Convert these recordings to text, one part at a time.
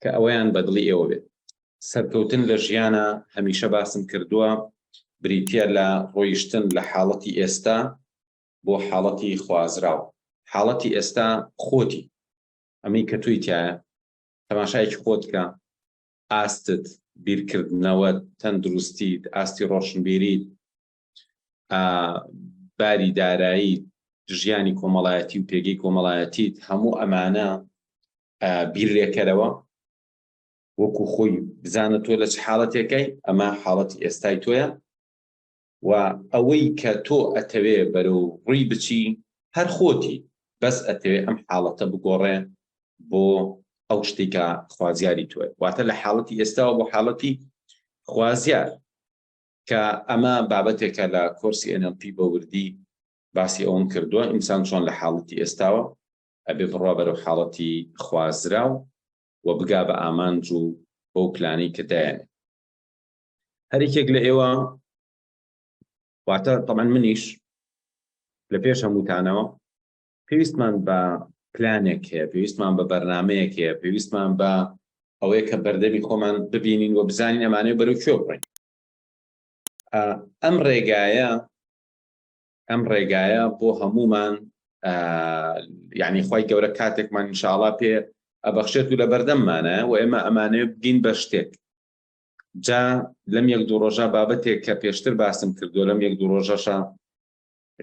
کە ئەوەیان بەدڵی ئێوە بێت سەرکەوتن لە ژیانە هەمیشە باسم کردووە بریتە لە ڕۆیشتن لە حاڵەتی ئێستا بۆ حاڵەتی خوازراو حاڵەتی ئێستا خۆتی ئەمەی کە توی تایە تەماشایکی خۆتکە ئاستت بیرکردنەوە تەندروستیت ئاستی ڕۆشنبیریت باری دارایی ژیانی کۆمەڵایەتی و پێگەی کۆمەڵایەتیت هەموو ئەمانە بیرێکەرەوە وەکو خۆی بزانە تۆ لە چ حاڵەتێکەکەی ئەمە حاڵەت ئێستای تۆیە و ئەوەی کە تۆ ئەتەوێ بەرەو ڕووی بچی هەر خۆتی بەس ئەتەوێ ئەم حاڵەتە بگۆڕێ بۆ ئەو شتێکە خوازیاری توێ واتە لە حاڵەتی ئێستاوە بۆ حاڵەتی خوازیار کە ئەمە بابەتێکە لە کۆرسی NLP بە وردی باسی ئەوم کردووە ئینسان چۆن لە حاڵەتی ئێستاوە ئەبێ بڕوا بەرەو حاڵەتی خوازراو و بگا بە ئامانج و بەو پلانی کە دایێن هەرێکێک لە ئێوە واتە تەمان منیش لە پێش هەمووتانەوە پێویستمان بە پلانێک هەیە، پێویستمان بە بەرنمەیەک هەیە، پێویستمان بە ئەوەیە کە بەردەمی خۆمان ببینین و بزانین ئەمانەیە بەرەو کوێ بڕین. ئەم ڕێگایە ئەم ڕێگایە بۆ هەمومان یعنی خی گەورە کاتێکمان انشاءڵا پێ ئەبەخشێت و لە بەردەممانە و ئێمە ئەمانێ بگین بە شتێک جا لەم یەک دوو ڕۆژە بابەتێک کە پێشتر باسم کردو لەم یەک دوو ڕۆژەشە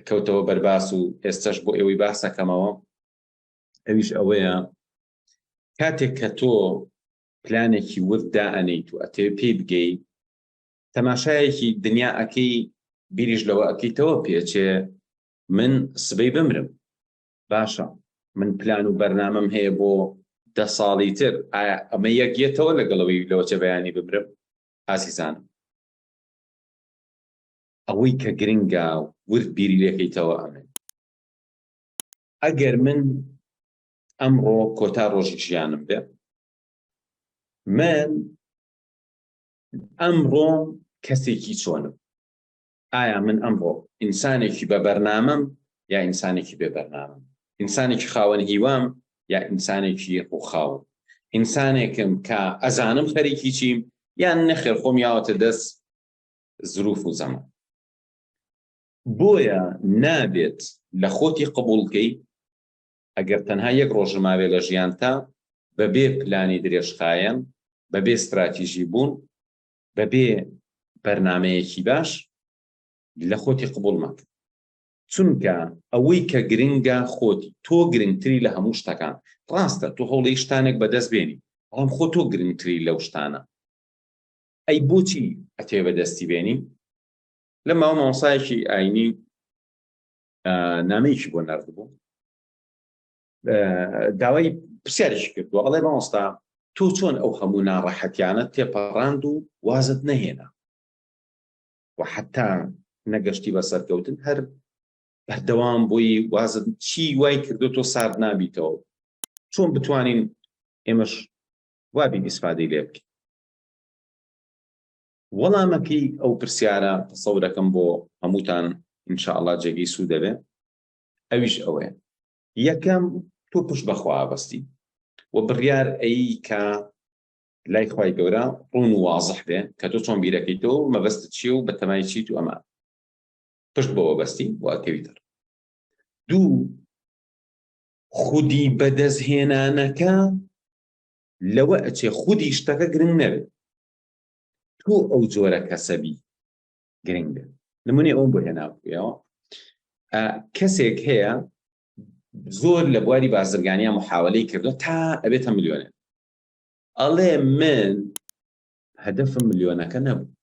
کەوتەوە بەر باس و ئێستەش بۆ ئێوەی باسەکەمەوە ئەویش ئەوەیە کاتێک کە تۆ پلانێکی ورد دائەنیت و ئەتێ پێی بگەی تەماشایەکی دنیا ئەەکەی بیریش لەوە ئەەکەیتەوە پێچێ من سبەی بمرم باشە من پلان و بەرنامەم هەیە بۆ دە ساڵی تر ئەمە یەکگێتەوە لەگەڵەوەی لەوەچە بەیانی ببرم ئازیزانم ئەوەی کە گرنگە ورد بیری لێکەیتەوە ئەمەیە، ئەگەر من ئەمڕۆ کۆتا ڕۆژی ژیانم بێ، من ئەمڕۆ کەسێکی چۆنم؟ ئایا من ئەمڕۆ ئینسانێکی بە بەرنامەم یا ئینسانێکی بێ بەرنامەم؟ ئینسانێکی خاوەن هیوام یا ئینسانێکی ڕووخاوم؟ ئینسانێکم کە ئەزانم خەریکی چیم یان نەخێر خۆم یاوەتە دەست زروف و زەمان بۆیە نابێت لە خۆتی قبولکەی ئەگەر تەنها یەک ڕۆژماوێ لە ژیانتا بەبێ پلانی درێژخایەن بەبێ استراتیژی بوون بەبێ بەرنمەیەکی باش لە خۆتی قبول مەکە چونکە ئەوەی کە گرنگە خۆتی تۆ گرنگتری لە هەموو شتەکان ڕاستە تۆ هەوڵی شتانێک بەدەست بێنی بەڵام خۆ تۆ گرنگتری لەو شتانە ئەی بۆچی ئەتەوێ بەدەستی بێنی لە ماوە مامۆسایەکی ئاینی نامەیەکی بۆ نرد بوو داوای پرسیارێکی کردووە ئەڵێ مامۆستا تۆ چۆن ئەو هەموو ناڕەحەتیانە تێپەڕاند و وازت نەهێنا و حتا نەگەشتی بە سەرکەوتن هەر بەردەوام بۆی وازت چی وای کردو تۆ سارد نابیتەوە چۆن بتوانین ئێمەش وابی ئیسفادەی لێ بکەین وەڵامەکەی ئەو پرسیارە تەسەورەکەم بۆ هەمووتان ان شاء اللە جێگەی سوود دەبێت ئەویش ئەوەیە یەکەم تۆ پشت بەخوا بەستی و بڕیار ئەی کە لای خوای گەورە ڕون و وازح بێ کە تۆ چۆن بیرەکەی تۆ مەبەست چی و بە تەمای چیت و ئەمان پشت بەوە بەستی واکەوی تر دوو خودی بەدەستهێنانەکە لەوە ئەچێ خودی شتەکە گرنگ نەبێت تۆ ئەو جۆرە کەسە بی گرنگ بێت نمونەی ئەوم بۆ هێناوەوە کەسێک هەیە زۆر لە بواری بازرگانیان محاولەی کردو تا ئەبێتە ملیۆنێ ئەڵێ من هەدەفم ملیۆنەکە نەبوو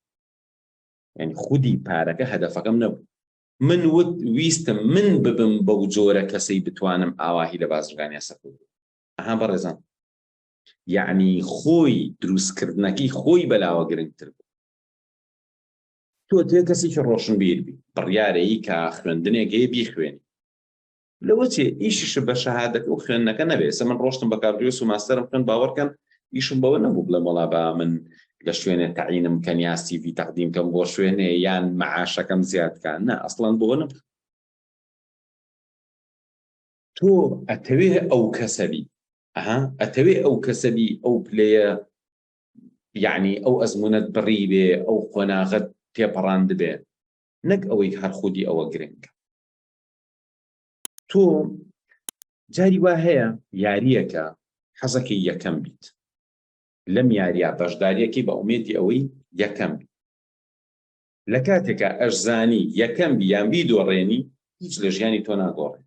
یعنی خودی پارەکە هەدەفەکەم نەبوو من وت ویستم من ببم بەو جۆرە کەسەی بتوانم ئاواهی لە بازرگانیا سەکوت ئەها بەڕێزان یعنی خۆی دروستکردنەکەی خۆی بەلاوە گرنگتر بوو تۆ تێ کەسێکی ڕۆشنبیر بی بڕیارەیی کە خوێندنێک هەیە بیخوێنی لەوە چێ ئیشش بە شەهادەکە و خوێندنەکە نەبێت سە من ڕۆشتم بە کاردوێس و ماستەرم خوێن باوەڕکەن ئیشم بەوە نەبوو بڵێ مەڵا با من لە شوێنێ تەعینم کە نیاستی وی تەقدیم کەم بۆ شوێنێ یان معاشەکەم زیادکان نە ئەسڵان بۆ نە تۆ ئەتەوێ ئەو کەسەبی ئەها ئەتەوێ ئەو کەسەبی ئەو پلەیە یعنی ئەو ئەزمونەت بڕی بێ ئەو قۆناغت تێپەڕاند بێ نەک ئەوەی هەر خودی ئەوە گرنگە تۆ جاری وا هەیە یاریەکە حەزەکەی یەکەم بیت لەم یاریا بەشداریەکەی بە ئومێدی ئەوەی یەکەم بیت لە کاتێکا ئەشزانی یەکەم بی یان بیدۆڕێنی هیچ لە ژیانی تۆ ناگۆڕێ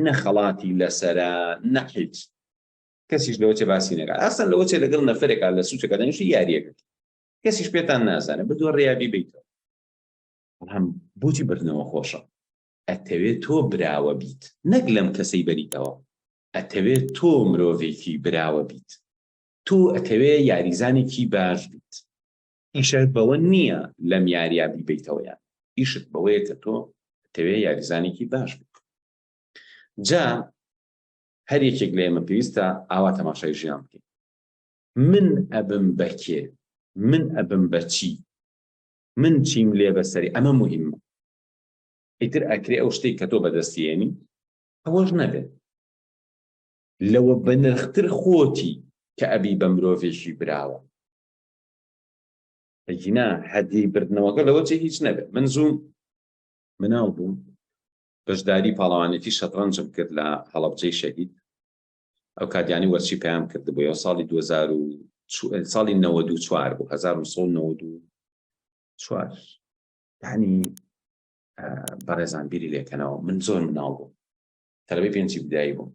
نە خەڵاتی لەسەرە نە حیچ کەسیش لەوە چێ باسی نەکات ئاسان لەوە چێ لەگەڵ نەفرێکا لە سوچەکە دەنیشی یاریەکەت کەسیش پێتان نازانێت بدۆ ڕیابی بیتەوە بەڵام بۆچی بردنەوە خۆشە ئەتەوێت تۆ براوە بیت نەک لەم کەسەی بەریتەوە ئەتەوێت تۆ مرۆڤێکی براوە بیت تۆ ئەتەوێ یاریزانێکی باش بیت ئیشت بەوە نییە لەم یاریە بیبەیتەوە یان ئیشت بەوەیە کە تۆ تەوێ یاریزانێکی باش بک جا هەر یەکێک لە ئێمە پێویستە ئاوا تەماشای ژیان بکەین من ئەبم بەکێ من ئەبم بەچی من چیم لێ بەسەری ئەمە مهمە ئیتر ئەکرێ ئەو شتێک کە تۆ بەدەستیێنی ئەوەش نەبێت لەوە بەنرختر خۆتی کە ئەبی بە مرۆڤێکی براوە ئەگینا هەدی بردنەوەکە لەوە جێ هیچ نەبێت من زووم مناڵ بووم بەشداری پاڵەوانێتی شەتڕەنجم کرد لە هەڵبجەی شەهید ئەو کاتیانی وەرچی پێیان کردبووەوە ساڵی 2000 ساڵی 94 بوو 1994 ینی بەڕێزان بیری لێکەنەوە من زۆر مناڵ بووم تەلەبەی پێنجی بدایی بووم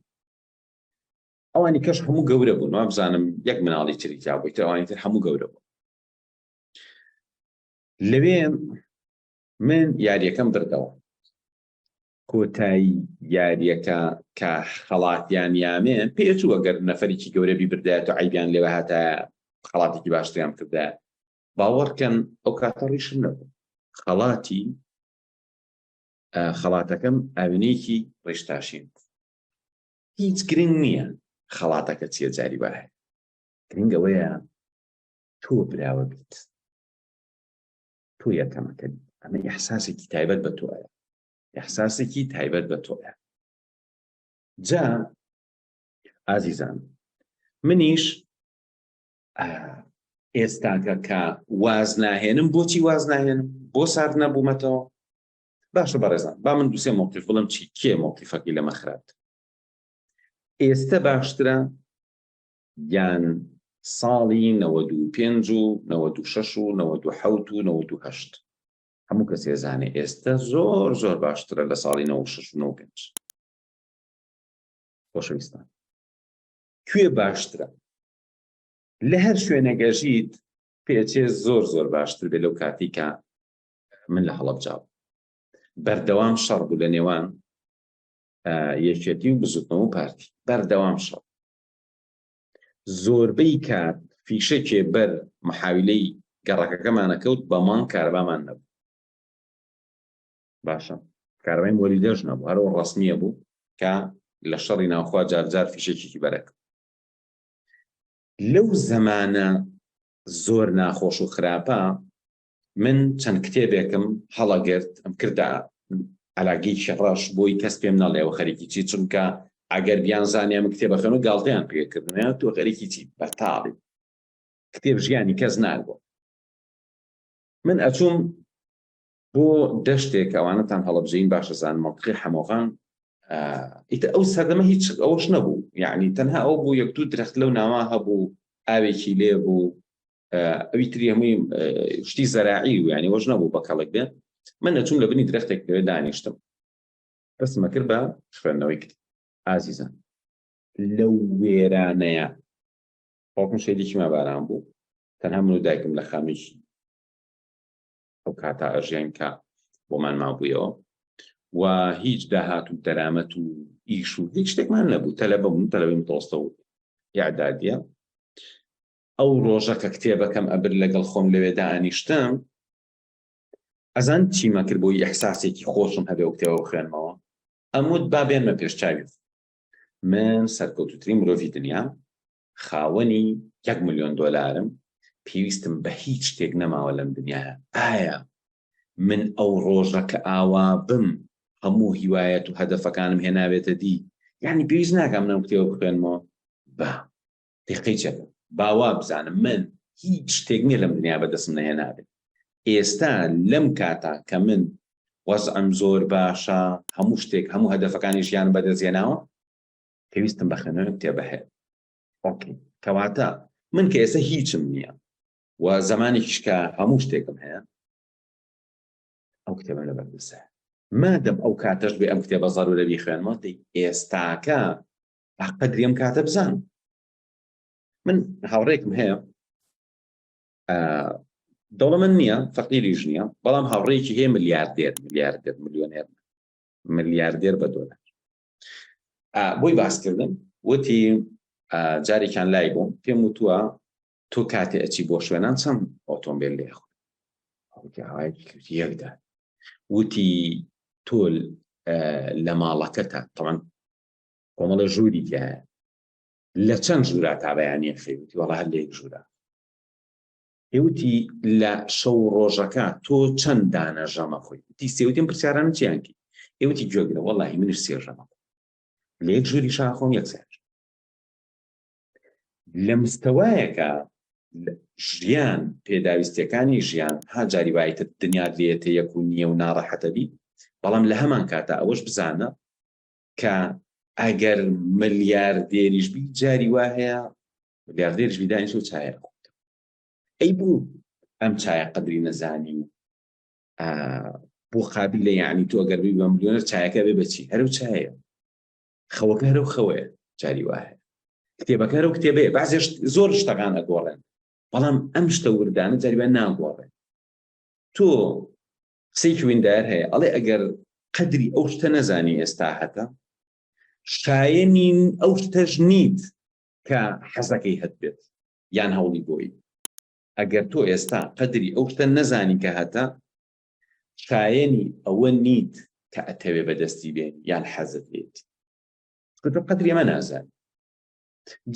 ئەوانی کەش هەموو گەورە بوون وابزانم یەک مناڵی تری جابووی تەوانی تر هەموو گەورە بوو لەوێ من یاریەکەم بردەوە کۆتایی یاریەکە کە خەڵاتیان یامێ پێچوو ئەگەر نەفرێکی گەورەبی بردایەت و عیبیان لێوە هاتە خەڵاتێکی باشتیان کردە باوەڕکەن ئەو کاتە ڕیشم نەبوو خەڵاتی خەڵاتەکەم ئاوێنێکی ڕێشتاشین هیچ گرنگ نییە خەڵاتەکە چیە جاری وا هەیە گرنگەوەیە تۆ براوە بیت تۆ یەکەمەکە ئەمە ئەحساسێکی تایبەت بە تۆە ئەحساسێکی تایبەت بە تۆە جا ئازیزان منیش ئێستاکە کە واز ناهێنم بۆچی واز ناهێنم بۆ سارد نەبوومەتەوە باشە بەڕێزان با من دوسێ مۆتیف بڵم چی کێ مۆتیفەکەی لەمە خراپت ئێستە باشترە یان ساڵی نەوە دوو پێنج و نەوە دوو شەش و نەوە دوو حەوت و نەوە دوو هەشت هەموو کەس ێزانێ ئێستا زۆر زۆر باشترە لە ساڵی نەوە شش و نەوە پێنج خۆشەویستان کوێ باشترە لە هەر شوێنەگەژیت پێچێ زۆر زۆر باشتر بێ لەو کاتیکە من لە هەڵەبجا بەردەوام شەڕ بوو لە نێوان یەکێتی و بزوتنەوە و پارتی بەردەوام شەڕ زۆربەی کات فیشەکێ بەر محاویلەی گەڕەکەکەمانە کەوت بە مانگ کاربامان نەبوو باشە کارەبای مۆری دەژ نەبوو هەرەوە ڕسمیە بوو کە لە شەڕی ناوخوا جارجار فیشێکێکی بەرەک لەو زەمانە زۆر ناخۆش و خراپە من چەند کتێبێکم هەڵەگرت ئەم کردە علاگیکی ڕەش بۆی کەس پێم نەڵێەوە خەریکی چی چونکە ئەگەر بیان زانێ من کتێبە خەن و گاڵتیان پێکردنیان تۆ خەریکی چی بەتاڵی کتێب ژیانی کەس ناگۆ من ئەچوم بۆ دەشتێک ئەوانەتان هەڵبژین باشەزان مەڵقی حەمۆغان ئیتە ئەو سەردەمە هیچ ئەوەش نەبوو یعنی تەنها ئەو بوو یەک دوو درخت لەو ناوا هەبوو ئاوێکی لێ بوو ئەوی تری هەمووی شتی زەراعی و ینی وەژ نەبوو بە کەڵک بێت من نەچوم لە بنی درختێک پێ دانیشتم دەستمە کرد بە خوێندنەوەی کرد ئازیزان لەو وێرانەیە باوکم شەیدێکی ما باران بوو تەنها من و دایکم لە خامێکی ئەو کاتا ئەژیان کە بۆمان مابوویەوە و هیچ داهات و دەرامەت و ئیش و هیچ شتێکمان نەبوو تەلە بەبوون تەلەوەی متۆستە و یاعدادە ئەو ڕۆژە کە کتێبەکەم ئەبرد لەگەڵ خۆم لەوێ دائەنیشتم ئەزان چیمە کرد بۆی ئەحساسێکی خۆشم هەبێ و کتێوە بخوێنمەوە ئەموت با بێنمە پێشچوی من سەرکەوتوترین مرۆڤی دنیا خاوەنی یەک ملیۆن دۆلارم پێویستم بە هیچ شتێک نەماوە لەم دنیاە ئایا من ئەو ڕۆژە کە ئاوا بم هەموو هیوایەت و هەدەفەکانم هێناوێتە دی یعنی پێویست ناکەم نەم کتێوە بخوێنمەوە با پیقەی چەکە باوا بزانم من هیچ شتێک نییە لەم دنیا بەدەستم نەهێنابێت ئێستا لەم کاتا کە من وەزعم زۆر باشە هەموو شتێک هەموو هەدەفەکانی ژیان بەدەستێناوە پێویستم بە خوێنەوە کتێبە هەیە کەواتە من کە ئێستا هیچم نییە و زمانی کشکە هەموو شتێکم هەیە ئەو کتێبە لە بەردەسە مادەم ئەو کاتەش بێ ئەم کتێبە زەرورە بیخوێنەوە ئێستاکە قەدری ئەم کاتە بزان من هاوڕێکم هەیە دەوڵەمەند نییە فەقیریش نییە بەڵام هاوڕێکی هەیە ملیاردێر ملیاردێر ملیۆنێر ملیاردێر بە دۆلار بۆی باسکردن وتی جارێکیان لای بووم پێم وتووە تۆ کاتێ ئەچی بۆ شوێنان چەند ئۆتۆمبیل لێ یەکدا وتی تۆل لە ماڵەکەتە تەوان کۆمەڵە ژووری تایە لە چەند ژورا تا بەیانە خەیوتی وەڵا هەر لە یەک ژورا هێوتی لە شەو ڕۆژەکە تۆ چەند دانە ژەمە خۆی تی سێوتیم پرسیاران چیانکی ئێوتی گوێگرە وەڵی منش سێ ژەمە لە یەک ژووری شاخۆم یەک سێ لە مستەوایەکە ژیان پێداویستەکانی ژیان ها جاری وایتە دنیا لێتە یەک و نییە و ناڕەحەتەبی بەڵام لە هەمان کاتە ئەوەش بزانە کە ئەگەر ملیاردێریش بی جاری وا هەیە ملیاردێرش بیدانیش و چایە ئەی بوو ئەم چایە قدری نەزانی و بۆ قابل لە یعنی تۆ گەربی بە ملیۆنەر چایەکە بێ بچی هەرو چایە خەوەکە هەرو خەوەیە جاری وایە کتێبەکە و کتێبەیە بازێش زۆر شتەکان ئەگۆڕێن بەڵام ئەم شتە وردانە جاریبان ناگۆڕێن تۆ قسەیەکی ویندایەر هەیە ئەڵێ ئەگەر قەدری ئەو شتە نەزانی ئێستا هەتە شایەنین ئەو شتەش نیت کە حەزەکەی هەت بێت یان هەوڵی بۆی ئەگەر تۆ ئێستا قەدری ئەو شتە نەزانی کە هەتە شایەنی ئەوە نیت کە ئەتەوێ بەدەستی بێن یان حەزت بێت قەدری ئەمە نازان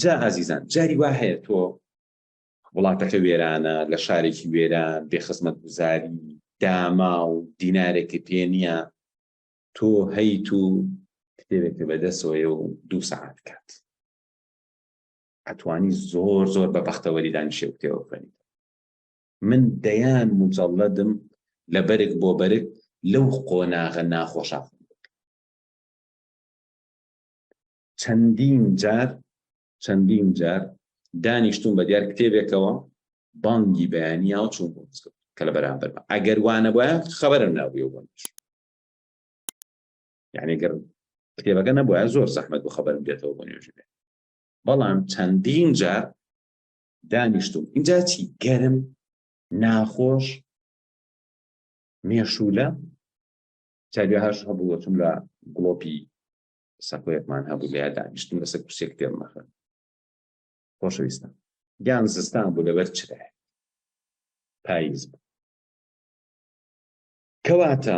جا ئازیزان جاری وا هەیە تۆ وڵاتەکە وێرانە، لە شارێکی وێران، بێ خزمەتگوزاری، داماو، دینارێکت پێ نییە، تۆ هەیت و کتێبێکت بەدەستەوەیە و دوو سەعات کات ئەتوانی زۆر زۆر بە بەختەوەری دانیشێ و کتێوە بخوێنیت من دەیان مجەڵەدم لە بەرگ بۆ بەرگ لەو قۆناغە ناخۆشە چەندین جار چەندین جار دانیشتون بە دیار کتێبێکەوە بانگی بەیانی یاو چون بۆ مزگەوت کە لە بەرامبەرمە ئەگەر وانە بە خبرم ناوی بۆ منش یعنی گەر کتێبەکە نەبووە زۆر زەحمەت بۆ خبرم دێتەوە بۆ نوێژ بێت بەڵام چەندین جار دانیشتون اینجا چی گەرم ناخۆش مێشولە چاوی هەش هەبووەتم لە گڵۆپی سەکۆیەکمان هەبوو لە دانیشتن لەسەر کوسێک پێم مەخە خۆشەویستان گیان زستان بوو لەبەر چرا پاییز بوو کەواتە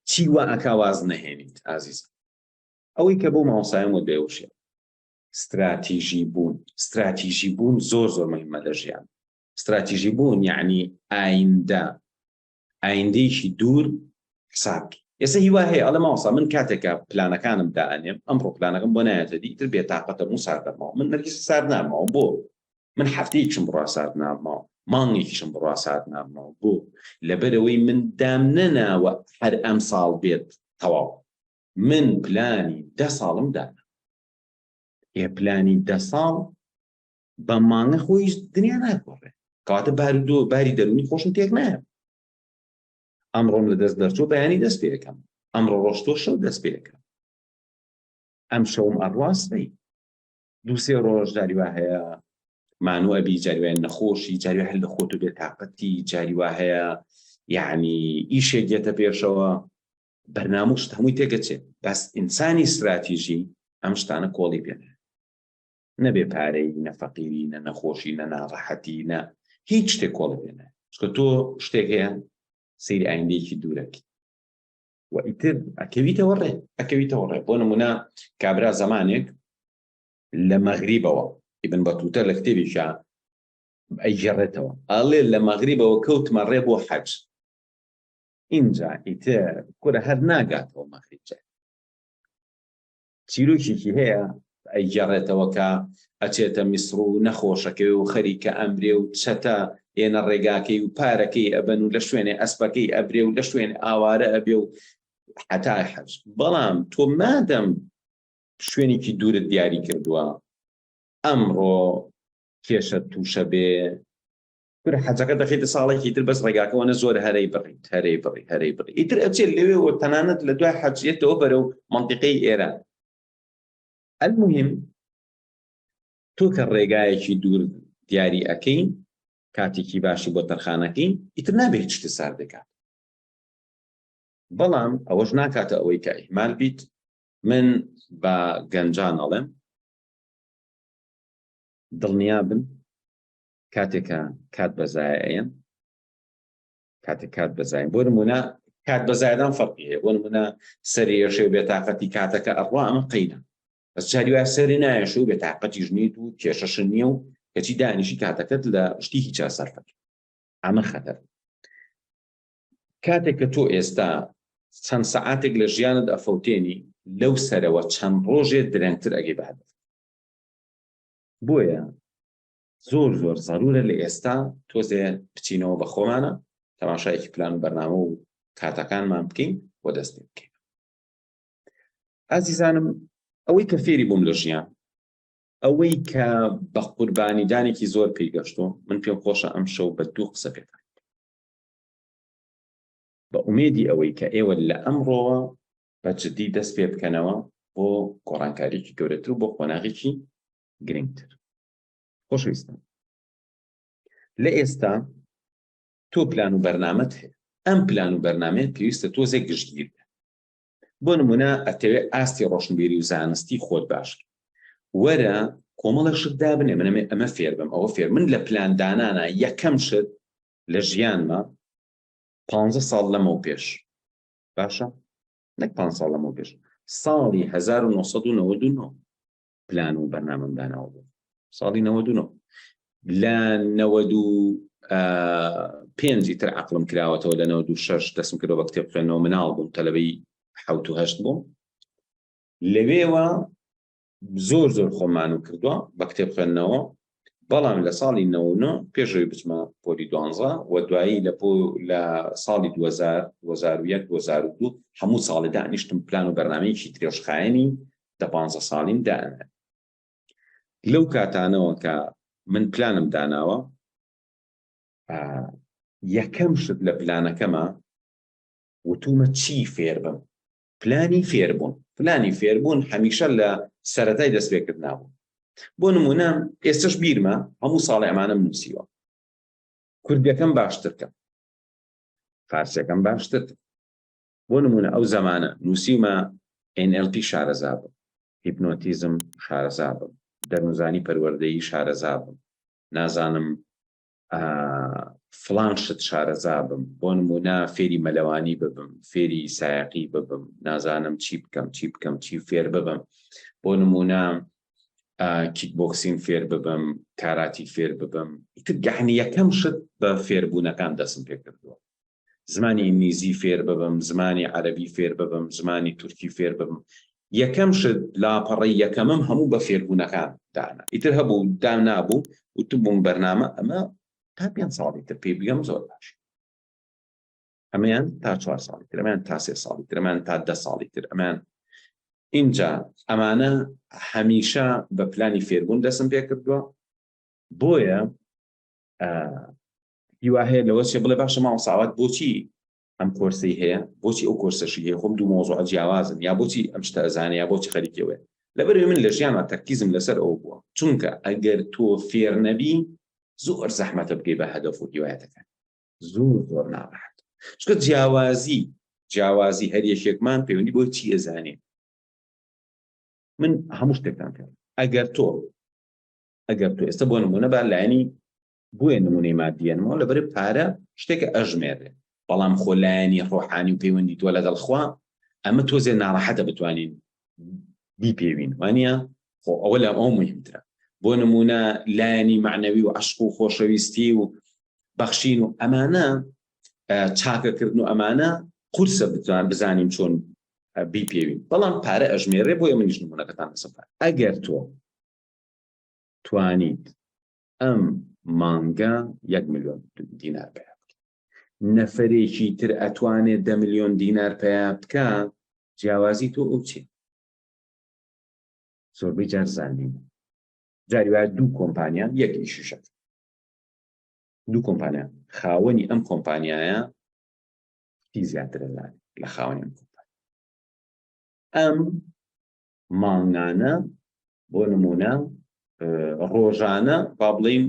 چی وا ئەکا واز نەهێنیت ئازیز ئەوەی کە بۆ ماوەسایم و دەێوشێ استراتیژی بوون استراتیژی بوون زۆر زۆر مهمە لە ژیان استراتیژی بوون یعنی ئایندە ئایندەیەکی دوور حساب بکەین ئێستا هیوا هەیە ئەڵێ ماوەسا من کاتێکە پلانەکانم دائەنێم ئەم ڕۆپلانەکەم بۆ نایەتە دی تر بێتاقەتە موو سار دەماوە من نەرگیز سار ناماوە بۆ من هەفتەیەکشم بڕا سارد ناماوە مانگێکیشم بڕا سارد ناماوە بۆ لەبەرەوەی من دام نەناوە هەر ئەم ساڵ بێت تەواو من پلانی دە ساڵم دانا ئێ پلانی دە ساڵ بە مانگە خۆیش دنیا ناگۆڕێ کەواتە بار دۆ باری دەرونی خۆشم تێک نایە ئەمڕۆم لە دەست دەرچۆ بەیانی دەست پێەکەم ئەمڕۆ ڕۆشتۆ شەو دەست پێەکەم ئەم شەوم ئەڕاستەی دووسێ ڕۆژ جاری وا هەیە مانو ئەبی جاریوان نەخۆشی جاری هەل لە خۆت و بێ تااقەتی جاری وا هەیە یعنی ئیشێک دێتە پێشەوە بەرناموشت هەمووی تێگەچێت بەس ئینسانی استراتیژی ئەم شتانە کۆڵی پێێ نە بێ پارەیی نە فەقیری نە نەخۆشی نە ناڕەحەتی نە هیچ شتێک کۆڵی پێ نایە چونکە تۆ شتێک هەیە سەیری ئایندەیەکی دوورەکی و ئیتر ئەکەویتەوە ڕێ ئەکەویتەوە ڕێ بۆ نمونە کابرا زمانێک لە مەغریبەوە ئیبن بەتوتە لە کتێبیشە ئەیگەڕێتەوە ئاڵێ لە مەغریبەوە کەوتمە ڕێ بۆ حەج ئینجا ئیتر کورە هەر ناگاتەوە مەغریب جای چیرۆکێکی هەیە ئەیگێڕێتەوە کە ئەچێتە میسڕ و نەخۆشەکەی و خەریکە ئەمرێ و چەتە ئێنە ڕێگاکەی و پارەکەی ئەبەن و لە شوێنێ ئەسپەکەی ئەبرێ و لە شوێن ئاوارە ئەبێ و حتا حەج بەڵام تۆ مادەم شوێنێکی دوورت دیاری کردووە ئەمڕۆ کێشە تووشە بێ کورە حەجەکە دەخیتە ساڵێکی تر بەس ڕێگاکەوەە زۆر هەرەی بڕی هەرەی بڕی هەرەی بڕی ئیتر ئەچێت لەوێ و تەنانەت لە دوای حەجیەتەوە بەرە و منطقەی ئێران المهم تۆ کە ڕێگایەکی دوور دیاری ئەەکەی کاتێکی باشی بۆ تەرخانەکەی ئیتر نابێت شتە سار دەکات بەڵام ئەوەش ناکاتە ئەوەی کە ئیمال بیت من بە گەنجان ئەڵێم دڵنیا بن کاتێکە کات بەزایەن کاتێک کات بەزای بۆ نمونە کات بەزایدان فەرقی هەیە بۆ نمونە سەرێشێ بێتاقەتی کاتەکە ئەڕوا ئەمە قینە بەس جاری وای سەری نایەش و بێتاقەتیش نیت و کێشەش نییە و کەچی دانیشی کاتەکەت لە شتی هیچا سەرفەت ئەمە خەتەر کاتێک کە تۆ ئێستا چەند سەعاتێک لە ژیانت ئەفەوتێنی لەو سەرەوە چەند ڕۆژێ درەنگتر ئەگەی بەهدەف بۆیە زۆر زۆر زەرورە لە ئێستا تۆزێ بچینەوە بە خۆمانە تەماشایەکی پلان و بەرنامە و کاتەکانمان بکەین بۆ دەست پێ بکەین ئازیزانم ئەوەی کە فێری بووم لە ژیان ئەوەی کە بە قوربانیدانێکی زۆر پێی گەشتۆ من پێم خۆشە ئەم شەو بە دوو قسە پێ بە ئومێدی ئەوەی کە ئێوە لە ئەمڕۆوە بە جددی دەست پێ بکەنەوە بۆ گۆڕانکاریی گەورەتر و بۆ قۆناغێکی گرنگتر خۆشەویستان لە ئێستا تۆ پلان و بەرنامەت هەیە ئەم پلان و بەرنمەیە پێویستە تۆزێک گشتگیر بۆ نمونە ئەتەوێت ئاستی ڕۆشنبیری و زانستی خۆت باش وەرە کۆمەڵە شت دابنێ منەمێ ئەمە فێر بم ئەوە فێر من لە پلاندانانە یەکەم شت لە ژیانمە پ ساڵ لەمە و پێش باشە نەک پ ساڵ لەمە و پێش ساڵی 1999 پلان و بەرنامەم داناوە بوو ساڵی نەوە دوو لە نەوە دوو پێنجی تر عقلم کراوەتەوە لە نەوە دوو شەش دەسم کردەوە بە کتێب خوێندنەوە مناڵ بووم تەلەبەی حوت و هەشت بووم لەوێوە زۆر زۆر خۆمان و کردووە بە کتێب خوێندنەوە بەڵام لە ساڵی نەوە پێشەوەی بچمە پۆلی دوانزە و دوایی لە لە ساڵی 2000 2001 2002 هەموو ساڵی دانیشتم پلان و بەرنمەیەکی درێژخایەنی دە پانزە ساڵیم دائەنێم لەو کاتانەوە کە من پلانم داناوە یەکەم شت لە پلانەکەمە وتومە چی فێر بم پلانی فێربوون پلانی فێربوون هەمیشە لە سەتای دەست پێکرد نابوو بۆ نمونە ئێستش بیرمە هەموو ساڵی ئەمانم نووسیوە کوردەکەم باشترکە فارسەکەم باشتر بۆ نموونە ئەو زەمانە نووسیومە NLP شارەزا بم، هیپنۆتیزم شارەزا بم، دەروونزانی پەروەردەیی شارەزا بم، نازانم فڵان شت شارەزا بم، بۆ نموونە فێری مەلەوانی ببم، فێری سایەقی ببم، نازانم چی بکەم، چی بکەم، چی فێر ببم، بۆ نموونە کیک بۆکسین فێر ببم، کاراتی فێر ببم، ئیتر گەحنی یەکەم شت بە فێربوونەکان دەستم پێ کردووە. زمانی ئینگلیزی فێر ببم، زمانی عەرەبی فێر ببم، زمانی تورکی فێر ببم. یەکەم شت، لاپەڕەی یەکەمم هەموو بە فێربوونەکان دانا. ئیتر هەبوو دام نابوو، وتبووم بەرنامە ئەمە تا پێنج ساڵی تر پێی بگەم زۆر باشە. ئەمەیان تا چوار ساڵی تر، ئەمەیان تا سێ ساڵی تر، ئەمەیان تا دە ساڵی تر، ئەمەیان ئینجا ئەمانە هەمیشە بە پلانی فێربوون دەستم پێ کردووە، بۆیە هیوا هەیە لەوە چێ بڵێ باشە مامۆستا ئاوات بۆچی ئەم کۆرسەی هەیە بۆچی ئەو کۆرسەشی هەیە خۆم دوو مۆزوع جیاوازن یا بۆچی ئەم شتە ئەزانێ یا بۆچی خەریکەوە لەبەروێ من لە ژیانە تەرکیزم لەسەر ئەو بووە چونکە ئەگەر تۆ فێر نەبی زۆر زەحمەتە بگەی بە هەدەف و هیوایەتەکان زۆر زۆر ناڕحەت چکە جیاوازی جیاوازی هەر یەکێکمان پەیوەندی بۆی چی ئەزانێ من هەموو شتێکتان پێ ئەگەر تۆ ئەگەر تۆ ئێستا بۆ نمونە با لایەنی بۆیە نمونەی مادیەنمەوە لە بەرە پارە شتێکە ئەژمێرێ بەڵام خۆ لایەنی ڕۆحانی و پەیوەندی تۆ لەگەڵ خوا ئەمە تۆزێ ناڕەحەتە بتوانین بیپێوین وانە خۆ ئەوە لە ئەو مهمترە بۆ نمونە لایەنی معنەوی و عشق و خۆشەویستی و بەخشین و ئەمانە چاکەکردن و ئەمانە قورسە بتوان بزانین چۆن بیپێوین بەڵام پارە ئەژمێرێ بۆیە منیش نمونونەکەتان لەسەر ئەگەر تۆ توانیت ئەم مانگە یەک ملیۆن دینار پیا بکە نەفرێکی تر ئەتوانێت دە ملیۆن دینار پیا بکە جیاوازی تۆ ئەو چێت زۆربەی جار زانین جاری وایە دوو کۆمپانیان یەک ئیششە دوو کۆمپانیا خاوەنی ئەم کۆمپانیایە هی زیاترە لە خاوەنی ئەم کۆمپانیا ئەم مانگانە بۆ نمونە ڕۆژانە با بڵین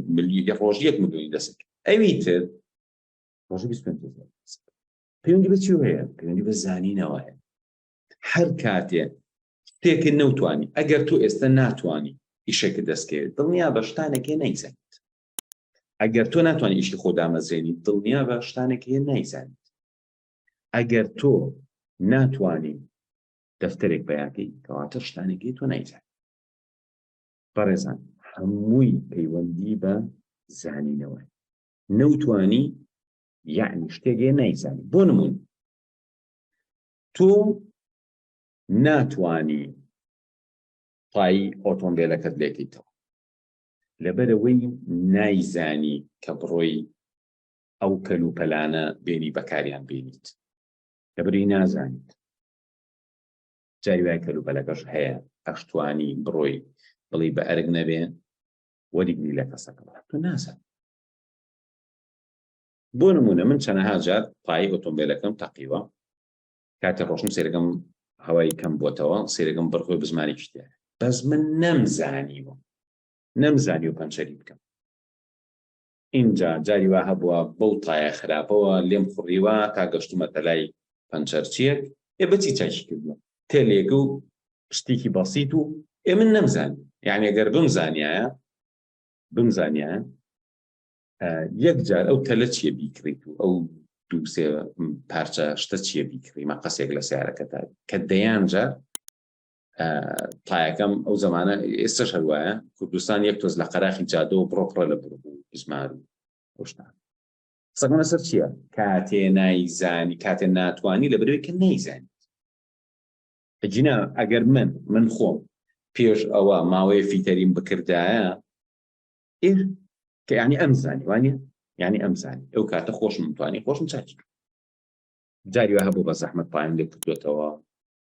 ڕۆژ یەک ملیۆنی دەست ئەوی تر ڕۆژ پەیوەندی بەچی هەیە پەیوەندی بە زانینەوە هەیە هەر کاتێ شتێکە نەوتانی ئەگەر تۆ ئێستا ناتانی ئیشێکە دەستکەوێت دڵنیا بە شتانەکە نایزانیت ئەگەر تۆ ناتوانانی ئیشی خۆ دامەزرێنی دڵنیا بە شتانێک هەیە نایزانیت ئەگەر تۆ ناتوانین دەفتەرێک پەیاکەی کەواتە شتانێکی تۆ نایزان بەڕێزان هەمووی پەیوەندی بە زانینەوە نەوتانی یعنی شتێگەێ نایزانی بۆ نمون تۆ ناتانی پایی ئۆتۆمبیلەکەت لێکیتەوە لەبەرەوەی نایزانی کە بڕۆی ئەو کەل و پەلانە بێنی بەکاریان بینیت لەبری نازانیت جای وای کەلوپەلەکەش هەیە ئەشتوانی بڕۆی بڵی بە ئەرگ نەبێ وەریگری لە کەسەکە تۆ نازان بۆ نمونە من چەنەها جار پای ئۆتۆمبیلەکەم تەقیوە کاتێ ڕۆشن سێرەکەم هەوای کەم بۆتەوە سێرەکەم بڕخۆی بزمانی شتێ بەس من نەمزانیوە نەمزانی و پەنچەری بکەم ئینجا جاری وا هەبووە بەو تایە خراپەوە لێم خوڕیوە تا گەشتوومەتە لای پەنچەرچییەک، ئێ بە چی چاکی کردووە؟ تێلێک و شتێکی بەسیت و ئێ من نەمزانی، یەعنی گەر بمزانیایە بمزانیایە یەک جار ئەو تەلە چییە بیکڕیت و ئەو دوو سێ پارچە شتە چییە بیکڕی مەقەسێک لە سیارەکەتا کە دەیان جار تایەکەم ئەو زمانە ئێستا هەروایە کوردستان یەک تۆز لە قەراخی جادە و بڕۆپڕە لە بڕ بوو زمان خۆشتان قسەکەمە سەر چییە کاتێ نایزانی کاتێ ناتوانانی لە برێکە نەیزانانی جینا ئەگەر من من خۆم پێش ئەوە ماوەیە فیتەریم بکردایە ئێ کە ینی ئەم زانی وانە ینی ئەم زانی ئەو کاتە خۆشم توانی خۆشم چاکی جاری هەبوو بە زەحمت پایان لێ کردوێتەوە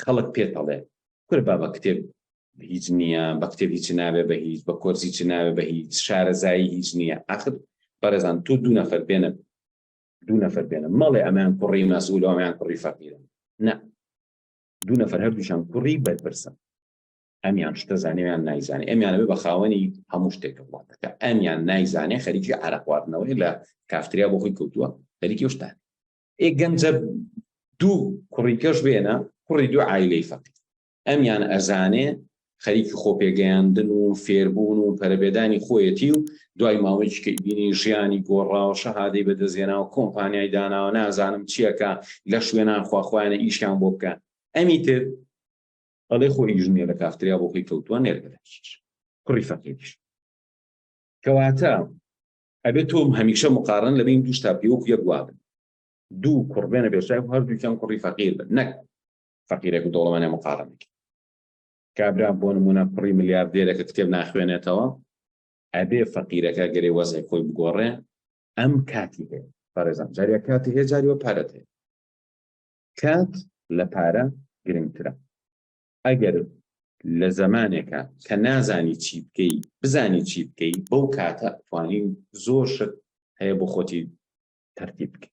خەڵک پێت ئەڵێ کورە با بە کتێب هیچ نییە بە کتێب هیچ ناوێ بە هیچ بە کۆرسی چ ناوێ بە هیچ شارەزایی هیچ نییە ئاخر بەڕێزان تو دوو نەفەر بێنە دوو نەفەر بێنە مەڵێ ئەمیان کوڕی مەسول و ئەمیان کوڕی فەقیرن نە دوو نەفەر هەردووشان کوڕی بەرپرسن ئەمیان شتە زانێویان نایزانێ ئەمیانەوە بە خاوەنی هەموو شتێکە وڵاتەکە ئەمیان نایزانێ خەریکی عراقواردنەوەی لە کافتریا بۆ خۆی کەوتووە خەریکی شتان ئێ گەنجە دوو کوڕی کەش بێنە کوڕی دوو عیلەی فەقی ئەمیان ئەزانێ خەریکی خۆپێگەیاندن و فێربوون و پەرەبێدانی خۆیەتی و دوای ماوەیەکی کە بینی ژیانی گۆڕاوە شەهادەی بەدەزێنا و کۆمپانیای داناوە نازانم چییەکە لە شوێنان خواخوایانە ئیشیان بۆ بکەن ئەمی تر ئەڵێ خۆ ئیژنیە لە کافتریا بۆ خۆی کەوتووە نێرگەدەکیش کوڕی فەقیش کەواتە ئەبێ تۆ هەمیشە مقارن لە بین دوو شتا پێ وەکو یەک وا بن دوو کوڕ بێنە بێشای و هەردووکیان کوڕی فەقیر بن نەک فەقیرێک و دەوڵەمانە مقارنێک کابرا بۆ نمونە کوڕی ملیاردێرەکە کتێب ناخوێنێتەوە ئەبێ فەقیرەکە گەرێ وەزای خۆی بگۆڕێ ئەم کاتی هەیە پارێزان جاریا کاتی هەیە جاریوە پارەت هەیە کات لە پارە گرنگترە ئەگەر لە زەمانێکا کە نازانی چی بکەی بزانی چی بکەی بەو کاتە توانی زۆر شت هەیە بۆ خۆتی تەرتیب بکەی